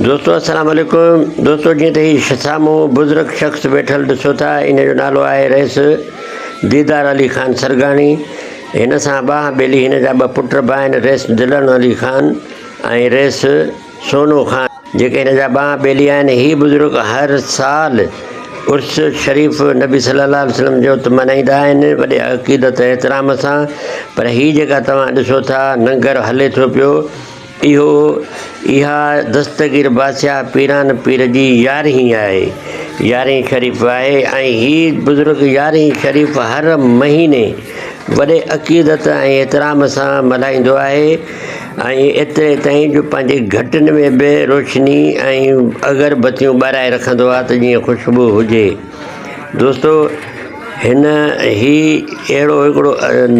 دوستو السلام عليڪم دوستو جيئن ته هي سامهون بزرگ شخص ويٺل ڏسو ٿا ان جو نالو آهي رئيس ديدار علي خان سرگاڻي هن سان ٻانهن ٻيلي هن جا ٻه پٽ به آهن رئيس دلڻ علي خان ۽ رئيس سونو خان جيڪي هن جا ٻانهن ٻيلي آهن هي بزرگ هر سال عرس شريف نبي صلي الله عليه وسلم جو ته ملهائيندا آهن وڏي عقيدت احترام سان پر هي جيڪا توهان ڏسو ٿا ننگر هلي ٿو پيو اهو اها دستگير بادشاهه پيران پير جي يارهين آهي يارهين شريف آهي ۽ هي بزرگ يارهين شريف هر مهيني وڏي عقيدت ۽ احترام سان ملهائيندو آهي ۽ ايتري تائين جو پنهنجي گهٽن ۾ به روشني ۽ اگربتيون ٻارائي رکندو آهي ته جيئن خوشبو هجي دوستو هن هي اهڙو هڪڙو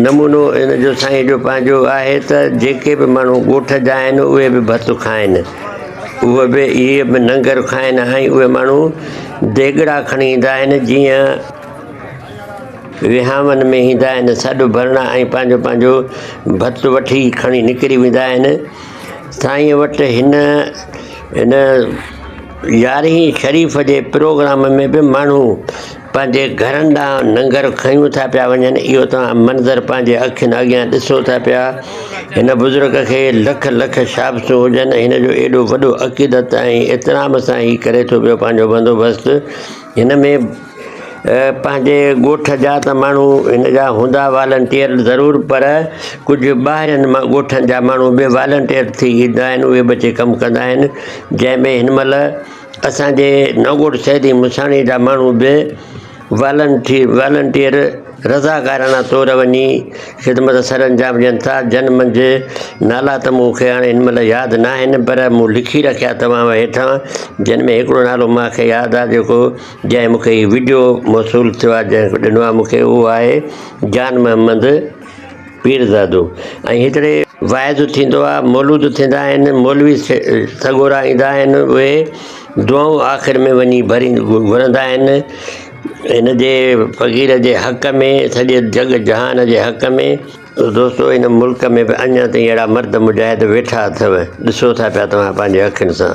نمونو هن جو سائين جو پنهنجو آهي ته جيڪي به ماڻهو ڳوٺ جا آهن اهي به ڀت کائن اهي به اهي به ننگر کائن ۽ اهي ماڻهو ديڳڙا کڻي ايندا آهن جيئن وهانئن ۾ ايندا آهن سڏ ڀرڻا ۽ پنهنجو پنهنجو ڀت وٺي کڻي نڪري ويندا آهن سائينء وٽ هن هن يارهين شريف جي پروگرام ۾ به ماڻهو پنهنجي گهرن ڏانهن ننگر کنيون ٿا پيا وڃن اهو توهان منظر پنهنجي اکين اڳيان ڏسو ٿا پيا هن بزرگ کي لک لک شابسون هجن هن جو ايڏو وڏو عقيدت ۽ احترام سان هي ڪري ٿو پيو پنهنجو بندوبست هن ۾ پنهنجي ڳوٺ جا ته ماڻهو هن جا هوندا والنٽيئر ضرور پر ڪجهه ٻاهرين ڳوٺن جا ماڻهو به والنٽيئر ٿي ايندا آهن اهي به اچي ڪم ڪندا آهن جنهن ۾ هن مهل اسانجي نئون ڳوٺ سيدي مھساڻي جا ماڻهو به والنٽي والنٽيئر رضاڪاراڻا طور وڃي خدمت سر انجام ڏين ٿا، جن منجهه نالا ته مون کي هاڻي هن مهل ياد ناهن، پر مون لکي رکيا توهان هيٺان، جن ۾ هڪڙو نالو مان کي ياد آ جيڪو جنهن مون کي هي وڊيو موصول ٿيو آ جنهن ڏنو آ مون کي اهو آهي جان محمد پيرزادو ۽ هڪڙي واعظ ٿيندو آ مولود ٿيندا آهن مولوي سڳورا ايندا آهن اهي دعائون آخر ۾ وڃي ڀرين گهرندا آهن. هن جي فقير جي حق ۾ سڄي جڳ جهان جي حق ۾ ته دوستو ان ملڪ ۾ به اڃا تائين اهڙا مرد مجاهد ويٺا اٿو ڏسو ٿا پيا توهان پنهنجي اکين سان